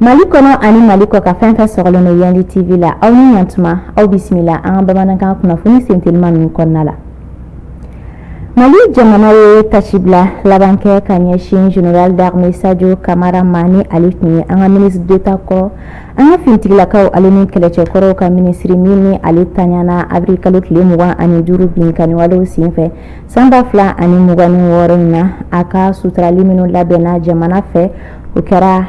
Mali kɔnɔ ani mali kɔkan fɛn fɛn sɔgɔlen don yandi tv la aw ni yan tuma aw bisimila an ka bamanankan kunnafoni sentelima ninnu kɔnɔna la mali jamana ye tasibila labankɛ ka ɲɛsin general d'armée sajo kamara ma ni ale tun ye an ka ministre d'Etat kɔ an ka finitigilakaw ale ni kɛlɛcɛkɔrɔw ka minisiri min ni ale tanyana abiri kalo tile mugan ani duuru binkanniwalew senfɛ san ba fila ani mugan ni wɔɔrɔ in na a ka suturali minnu labɛnna jamana fɛ o kɛra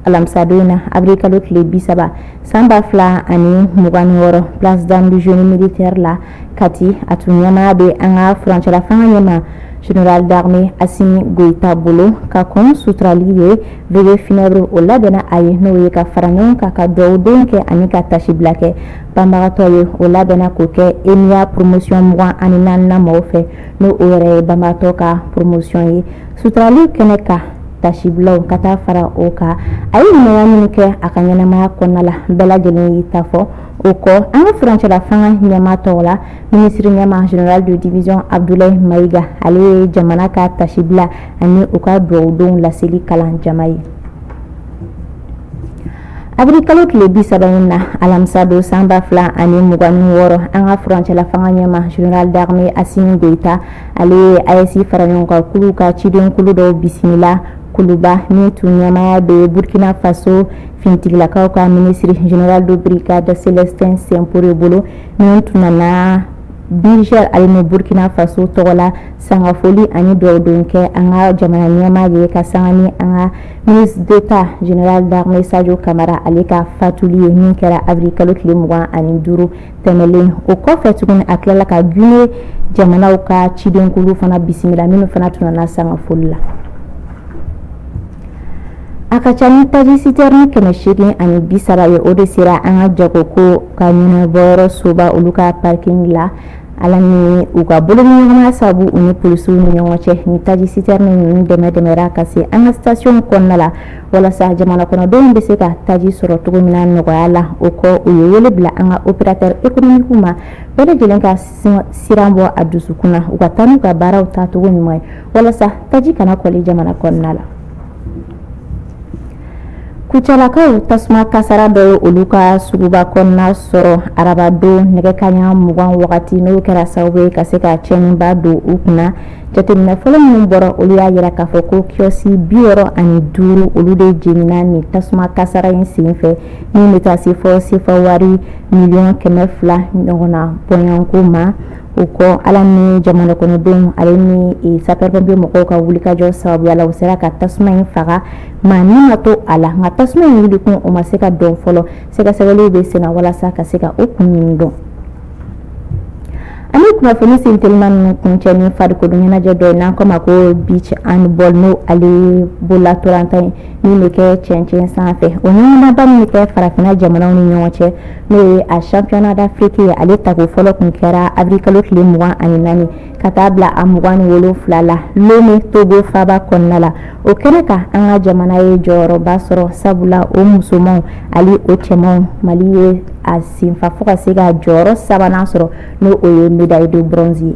alamisadon na abiri kalo tile bi saba san ba fila ani mugan ni wɔɔrɔ place d'armes génie militaire la kati a tun ɲɛmaya bɛ an ka furancɛlafanga ɲɛmaa general d'armée asimi goyita bolo ka kɔn suturali ɲɛ veillée funèbre o labɛnna a ye n'o ye ka fara ɲɔgɔn kan ka dugawudon kɛ ani ka tasibila kɛ banbagatɔ ye o labɛnna k'o kɛ EMIA promotion 24nan mɔgɔw fɛ n'o o yɛrɛ ye banbagatɔ ka promotion ye suturali kɛnɛ kan tasibilaw ka taa fara o kan a ye ɲumanya minnu kɛ a ka ɲɛnamaya kɔnɔna la bɛɛ lajɛlen y'i ta fɔ o kɔ an ka furancɛla fanga ɲɛmaa tɔgɔ la minisiri ɲɛmaa general de division Abdoulaye Maïga ale ye jamana ka tasibila ani u ka dugawudonw laseli kalan jama ye abiri kalo tile bi saba in na alamisa don san ba fila ani mugan ni wɔɔrɔ an ka furancɛla fanga ɲɛmaa general d'armée asimi goyita ale ye ayɛsi fara ɲɔgɔn kan kulu ka ciden kulu dɔw bisimila kuluba min tun ɲɛmaya bɛ burkina faso finitigilakaw ka minisiri general de brigade célestin simporé bolo min tun nana Niger ale ni Burkina Faso tɔgɔ la sanga foli ani dugawu don kɛ an ka jamana ɲɛmaa ye ka sanga ni an ka ministre d'Etat général d'armée Sajo Kamara ale ka fatuli ye min kɛra avril kalo tile 25 tɛmɛlen o kɔfɛ tuguni a tilala ka Guinée jamanaw ka cidenkuluw fana bisimila minnu fana tun nana sanga foli la A ka ca ni taji citerne kɛmɛ seegin ani bi saba ye o de sera an ka jago ko ka ɲɛnabɔyɔrɔ soba olu ka parking la ala ni u ka boloɲɔgɔnma sabu u ni polisiw ni ɲɔgɔn cɛ ni taji citerne dɛmɛ dɛmɛra ka se an ka stationw kɔnɔna la walasa jamana kɔnɔdenw bɛ se ka taji sɔrɔ cogo min nɔgɔya la o kɔ u ye wele bila an ka opérateur économique ma bɛɛ lajɛlen ka siran bɔ a dusukun na u ka taa n'u ka baaraw taacogo ɲuman ye walasa taji kana kɔli jamana kɔnɔna la kucalakaw tasuma kasara dɔ ye olu ka suguba kɔnɔna sɔrɔ arabadon nɛgɛ kanɲɛ mugan wagati n'o kɛra sababu ye ka se ka cɛnniba don u kunna jateminɛ fɔlɔ minnu bɔra olu y'a yira k'a fɔ ko kiyɔsi bi wɔɔrɔ ani duuru olu de jenina ni tasuma kasara in sen fɛ min bɛ taa se fɔ sefa wari miliyɔn kɛmɛ fila ɲɔgɔnna bɔnɛko ma o kɔ ala ni jamana kɔnɔdenw ale ni sapeur-pompier mɔgɔw ka wulikajɔ sababuya la u sera ka tasuma in faga maa ni ma to a la nka tasuma in wulikun o ma se ka dɔn fɔlɔ sɛgɛsɛgɛliw bɛ sen na walasa ka se ka o kun ɲini dɔn ani kunnafoni sentelima ninnu kuncɛ ni farikolo ɲɛnajɛ dɔ ye n'an k'o ma ko beach handball n'o ale bolola ntolatan ye min bɛ kɛ cɛncɛn sanfɛ o ɲɔgɔndanba min bɛ kɛ farafinna jamanaw ni ɲɔgɔn cɛ n'o ye a championnat d'Afrique ye ale tako fɔlɔ kun kɛra avril kalo tile mugan ani naani ka taa bila a mugan ni wolonwula la lomɛ togo faba kɔnɔna la o kɛnɛ kan an ka jamana ye jɔyɔrɔba sɔrɔ sabula o musomanw ani o cɛmanw mali ye a senfa fo ka se ka jɔyɔrɔ sabanan sɔrɔ n'o o ye médaille de bronze ye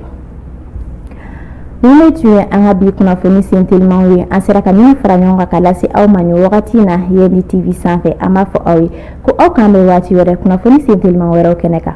ninnu tun ye an ka bi kunnafoni sentelimaw ye an sera ka min fara ɲɔgɔn kan ka lase aw ma nin wagati na yandi tv sanfɛ an b'a fɔ aw ye ko aw k'an bɛn waati wɛrɛ kunnafoni sentelimaw wɛrɛw kɛnɛ kan